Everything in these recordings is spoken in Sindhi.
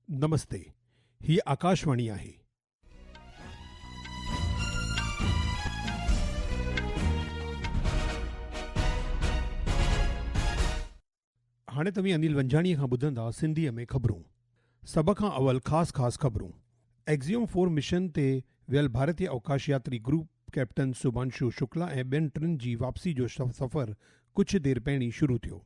نمستي هي آڪاشواڻي آهي. هاڻي توهين انيل ونجاڻي کان ٻڌندا سنڌي ۾ خبرون. سڀ کان اول خاص خاص خبرون. ايڪزيوم فور مشن تي ويل ڀارتي اوڪاش ياتري گروپ ڪئپٽن سوڀانشو شڪلا ۽ ٻين ٽن جي واپسي جو سفر ڪجهه دير پهرين شروع ٿيو.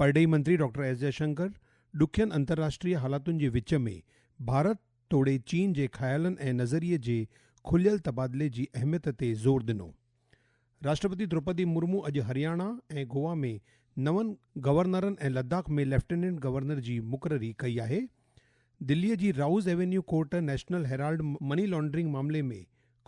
پرڏيهي منتري ڊاڪٽر ايس جئشنڪر ڏکين انترراشٽري حالاتن جي وچ ۾ ڀارت توڙي چين جي خيالن ۽ نظريي جي کليل تبادلي جي اهميت تي زور ڏنو. راشٽرپتي دروپدي مرمو اڄ هرياڻا ۽ گوا ۾ نون گورنرن ۽ لداخ ۾ ليفٽيننٽ گورنر جي مقرري ڪئي آهي. دلي جي Rouse Avenue court National Herald money laundering معاملي ۾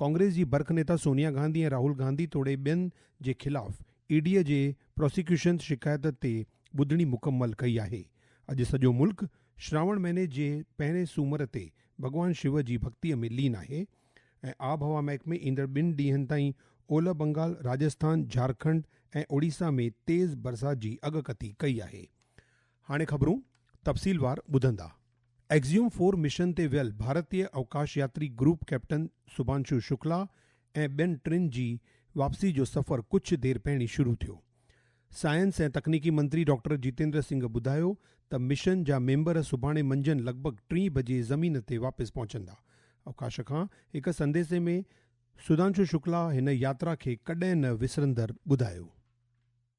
ڪانگريس جي برک نيتا سونيا گانڌي ۽ راهول گانڌي توڙي ٻين جي خلاف اي ڊي جي پراسيڪيوشنز شڪايت تي ٻڌڻي مڪمل ڪئي آهي، اڄ سڄو ملڪ شراوڻ مهيني جي پهرين سومر تي ڀڳوان شو جي ڀڳتي ۾ لين آهي ۽ آب هوا محڪمي ايندڙ ٻن ڏينهن تائين اولهه بنگال، راجسٿان، جهارکنڊ ۽ اوڙيسا ۾ تيز برسات جي اڳڪٿي ڪئي آهي. هاڻي خبرون تفصيلوار ٻڌندا. ايڪزيوم فور مشن تي ويل ڀارتي اوڪاش ياتري گروپ ڪئپٽن سڀانشو شڪلا ۽ ٻين ٽن جي واپسي جو سفر ڪجهه دير پهرين شروع ٿيو. سائنس ۽ تڪنيڪي منتري ڊاڪٽر جتيندر سنگهه ٻڌايو ته مشن جا ميمبر سڀاڻي منجهند لڳ ڀڳ ٽين بجي زمين تي واپس پهچندا. اوڪاش کان هڪ سنديسي ۾ سڌانشو شڪلا هن ياترا کي ڪڏهن نه وسرندڙ ٻڌايو.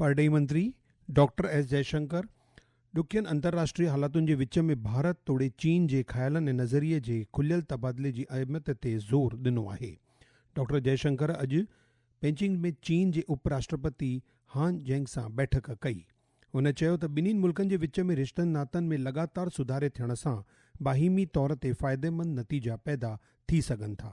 پرڏيهي منتري ڊاڪٽر ايس جئي شنڪر ڏکين انترراشٽري حالتن جي وچ ۾ ڀارت توڙي چين جي خيالن ۽ نظريي جي کليل تبادلي جي اهميت تي زور ڏنو آهي. ڊاڪٽر جئي شنڪر اڄ پيچنگ ۾ چين جي اپ راشٽرپتي هان جينگ سان بيٺڪ ڪئي. هن چيو ته ٻنهي ملڪن جي وچ ۾ رشتن ناتن ۾ لڳاتار سڌاري ٿيڻ سان باهمي طور تي فائديمند نتيجا پيدا ٿي سگهن ٿا.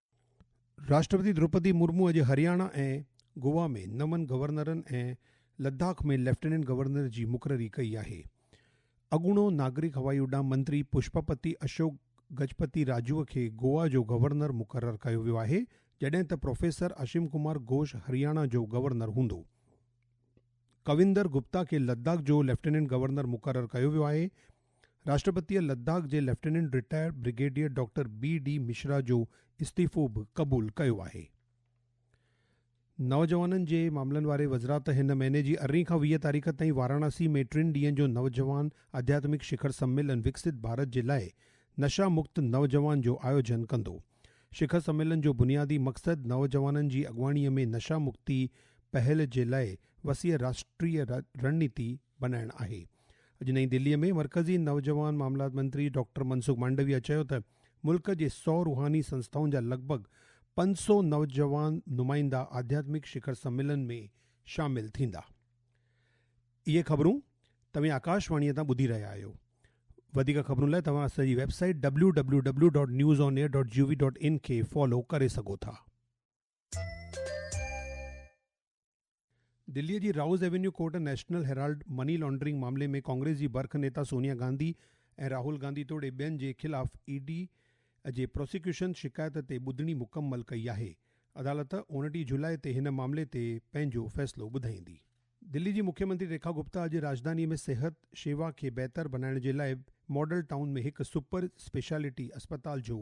راشٽرپتي دروپدي مرمو اڄ هرياڻا ۽ گوا ۾ نون گورنرن ۽ لداخ ۾ ليفٽيننٽ گورنر جي مقرري ڪئي آهي. اڳوڻو ناگرڪ هوائي اڏام منتري پشپپتي اشوڪ گجپتي راجوء کي گوا جو گورنر مقرر ڪيو ويو آهي جڏهن ته پروفيسر اشم ڪمار گهوش هرياڻا جو گورنر هوندو. ڪويندر گپتا کي لداخ جو ليفٽيننٽ گورنر مقرر ڪيو ويو آهي. راشٽرپتيء لداخ جي lieutenant retired brigadier doctor B D Mishra جو استعيفو به قبول ڪيو آهي. نوجوانن جي معاملن واري وزرات هن مهيني جي ارڙهين کان ويهه تاريخ تائين واراناسي ۾ ٽن ڏينهن جو نوجوان آڌياتمڪ شکر سميلن وڪسيت ڀارت جي لاء نشه مڪت نوجوان جو آيوجن ڪندو. شکر سميلن جو بنيادي مقصد نوجوانن جي اڳواڻيء ۾ نشه مڪتي پهل جي لاء وسيع راشٽريه رڻنيتي بنائڻ آهي. اڄ نئين دهلي ۾ مرڪزي نوجوان معاملات منتري ڊاڪٽر منسوخ مانڊويا چيو ته ملڪ جي سؤ روحاني سنسٿائن جا لڳ ڀڳ پنج سؤ نوجوان نمائندا آڌياتمڪ شکر سميلن ۾ شامل ٿيندا. اهي خبرون توهين آڪاش واڻي تان ٻڌي رهيا آهيو. وڌيڪ خبرن لاء توهان اسان جي website W W W dot news on air dot G O V dot in کي فالو ڪري سگهو ٿا. دلي جي Rouse Avenue court National Herald money laundering معاملي ۾ ڪانگريس جي برک نيتا سونيا گانڌي ۽ راهول گانڌي توڙي ٻين جي خلاف اي ڊي جي پراسيڪيوشن شڪايت تي ٻڌڻي مڪمل ڪئي آهي، عدالت اڻٽيهه جولاء تي هن معاملي تي پنهنجو فيصلو ٻڌائيندي. دلي جي مکي منتري ريکا گپتا اڄ راڄڌاني ۾ صحت شيوا کي بهتر بنائڻ جي لاء ماڊل ٽائون ۾ هڪ سپر اسپيشلٽي اسپتال جو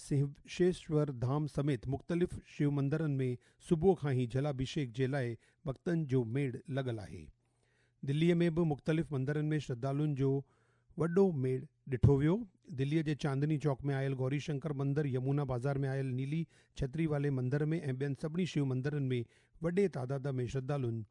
سهوشيشور ڌام سميت مختلف شيو مندرن ۾ صبح کان ئي جلاڀيشيڪ جي لاء ڀڳتن جو ميڙ لڳل آهي. دلي ۾ به مختلف مندرن ۾ شرڌالون جو وڏو ميڙ ڏٺو ويو. دلي جي چاندني چوڪ ۾ آيل گوري شنڪر مندر، يمونا بازار ۾ آيل نيلي ڇتري والي مندر ۾ ۽ ٻين سڀني شيو مندرن ۾ وڏي تعداد ۾ شرڌالن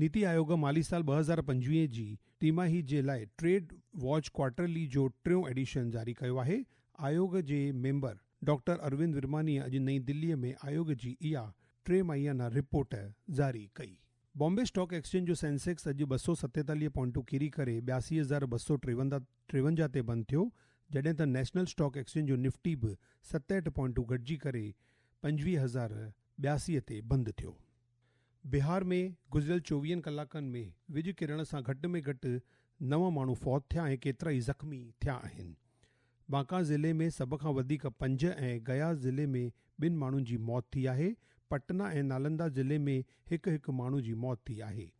نيتي آيوگ مالي سال ٻه هزار پنجويهه جي ٽيماهي جي لاء ٽريڊ واچ ڪوارٽرلي جو ٽيون ايڊيشن جاري ڪيو آهي. آيوگ جي ميمبر ڊاڪٽر اروند ورمانيء اڄ نئين دهليء ۾ آيوگ جي اها ٽي ماهيانا رپورٽ جاري ڪئي. بامبي اسٽاڪ ايڪسچينج جو سينسيڪس اڄ ٻه سؤ ستيتاليهه پوائنٽون ڪيري ڪري ٻياسي هزار ٻه سؤ ٽيونجاهه تي بند ٿيو، جڏهن ته نيشنل اسٽاڪ ايڪسچينج جو نفٽي به ستهٺ پوائنٽون گهٽجي ڪري پنجويهه هزار ٻياسي تي بند ٿيو. بهار ۾ گذريل چوويهن ڪلاڪن ۾ وڄ ڪرڻ سان گهٽ ۾ گهٽ نو ماڻهو فوت ٿيا ۽ ڪيترائي زخمي ٿيا آهن. بانڪا ضلعي ۾ سڀ کان وڌيڪ پنج ۽ گيا ضلعي ۾ ٻن ماڻهن جي موت ٿي آهي. پٽنا ۽ نالندا ضلعي ۾ هڪ هڪ ماڻهو جي موت ٿي آهي.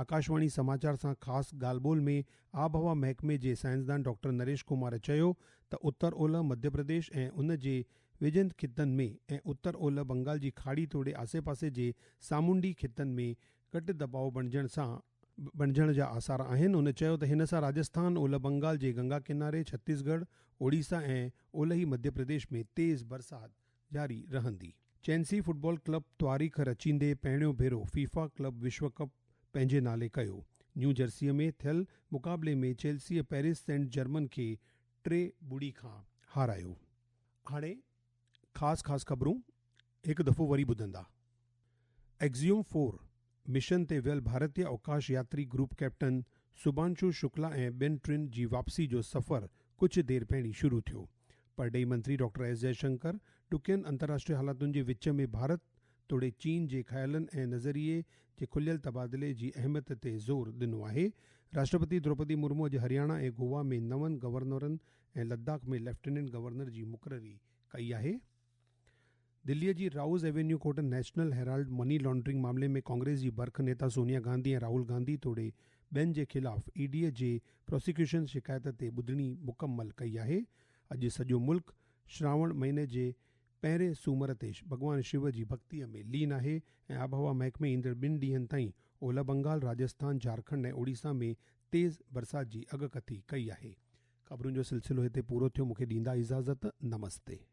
آڪاشواڻي سماچار سان خاص ڳالهه ٻولهه ۾ آبهوا محڪمي جي سائنسدان ڊاڪٽر نريش ڪمار چيو ته اتر اولهه مڌيه پرديش ۽ ان جي ويجهن خطن ۾ ۽ اتر اولهه بنگال جي کاڙي توڙي آسي پاسي جي سامونڊي خطن ۾ گهٽ دٻاء بڻجڻ سان بڻجڻ جا آثار آهن هن چيو ته هن سان راجسٿان اولهه بنگال جي گنگا ڪناري ڇتيس ڳڙهه اوڙيسا ۽ اولهي مڌيه پرديش ۾ تيز برسات جاري رهندي. چينسي فٽبال ڪلب تواريخ رچيندي پهريون ڀيرو فيفا ڪلب وشو ڪپ پنهنجي نالي ڪيو. نيو جرسيء ۾ ٿيل مقابلي ۾ چيلسيء پئرس سينٽ جرمن کي ٽي ٻڙي کان هارايو. هاڻي خاص خاص خبرون هڪ دفعو وري ٻڌندا. ايڪزيوم فور مشن تي ويل ڀارتي اوڪاش ياتري گروپ ڪئپٽن سبانشو شڪلا ۽ ٻين ٽن جي واپسي جو سفر ڪجهه دير پهرين شروع ٿيو. پرڏيهي منتري ڊاڪٽر ايس جئي شنڪر ڏکين انترراشٽري حالتن جي وچ ۾ ڀارت توڙي چين جي خيالن ۽ نظريي جي کليل تبادلي جي اهميت تي زور ڏنو آهي. راشٽرپتي دروپدي مرمو اڄ هرياڻا ۽ گوا ۾ نون گورنرن ۽ لداخ ۾ ليفٽيننٽ گورنر جي مقرري ڪئي آهي. دلي جي Rouse Avenue court National Herald money laundering معاملي ۾ ڪانگريس جي برک نيتا سونيا گانڌي ۽ راهول گانڌي توڙي ٻين جي خلاف اي ڊي جي پراسيڪيوشن شڪايت تي ٻڌڻي مڪمل ڪئي آهي. اڄ سڄو ملڪ شراوڻ مهيني جي پهرين سومر تي ڀڳوان شو جي ڀڳتي ۾ لين آهي ۽ آبهوا محڪمي ايندڙ ٻن ڏينهن تائين اولهه بنگال، راجسٿان، جهارکنڊ ۽ اوڙيسا ۾ تيز برسات جي اڳڪٿي ڪئي آهي. خبرن جو سلسلو هتي پورو ٿيو مون کي ڏيندا اجازت نمستي.